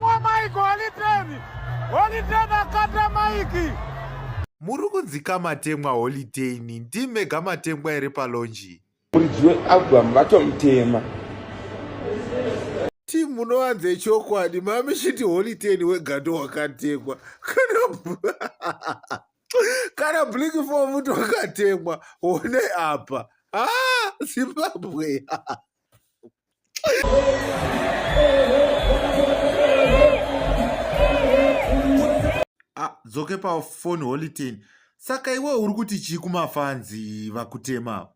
Maiko holiteni, holiteni akata maiki. Muri kunzika matemwa holiteni, ndimega matemwa ere palonji? Muridzi wealbum vatomutema. Ti munowanze chokwadi, mami shiti holiteni wegando wakatemwa. Kana kana blink for mtu akatemwa one apa ah, Zimbabwe Ah, dzoke pafoni holiten saka iwe uri kuti chii kumafanzi vakutema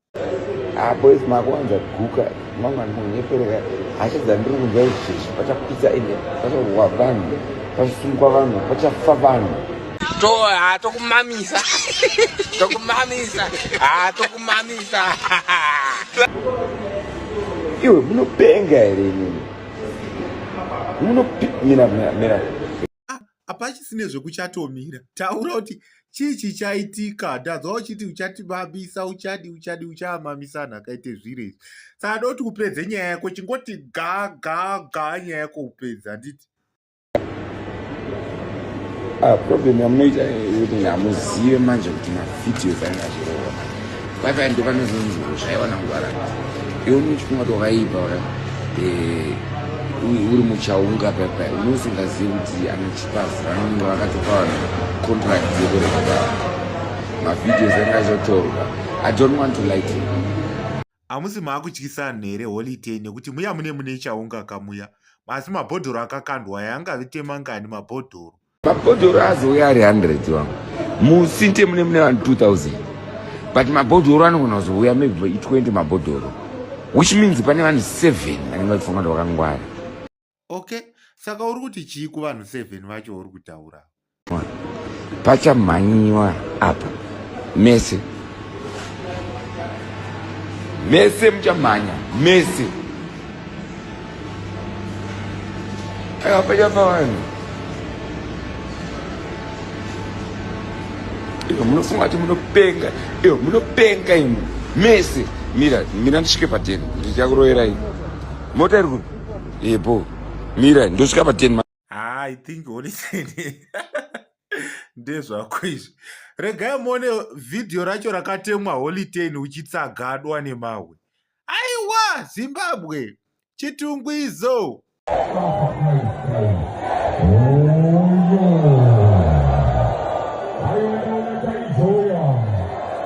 ah, boys makuwanza guka mangani munhu yepereka hasha dzandiri kunzwa izvezvi pachapisa ende pachawa vanhu pachisungwa vanhu pachafa vanhu to ha tokumamisa tokumamisa ha tokumamisa iwe munopenga here inini munopmira mira hapachisine zvekuchatomira taura kuti chii chichaitika ndanzwa uchiti uchatibabisa uchadi uchadi uchaamamisana akaite zviro izvi saka doti upedze nyaya yako chingoti ga ga ga nyaya yako upedza handiti Ah, problem yamunoita yekuti hamuzive manje kuti mavideos aina zvirova vavaya ndo vanozonzi zvaiva nangwara iwe unochifunga kuti wakaipa waya eh, uri muchaunga papa unosingazivi kuti anochipazi vanenge vakatopa vanhu contract yekureketa mavideos aina zvotorwa i don't want to like you Hamusi maakutyisa vanhu here holitei nekuti muya mune mune chaunga kamuya asi mabhodhoro akakandwa aya angavite mangani mabhodhoro mabhodhoro azouya ari 100 wangu musinte mune mune vanhu 2000 but mabhodhoro anogona kuzouya maybe 20 mabhodhoro which means pane vanhu 7 vanenge vachifunga kuti vakangwara okay saka uri kuti chii kuvanhu seven vacho uri kutaura pachamhanyiwa apa mese mese muchamhanya mese aiwa pachafa vanhu iyo munofunga kuti munopenga iyo munopenga imi mese mira mira ndisvike pateni ndichakuroerai mota iri kupi Yebo. Mira, ndosvika pa 10 Ah, I think holy thing. Ndezvako izvi. Regai muone video racho rakatemwa holy ten uchitsagadwa nemahwe. Aiwa Zimbabwe. Chitungu izo.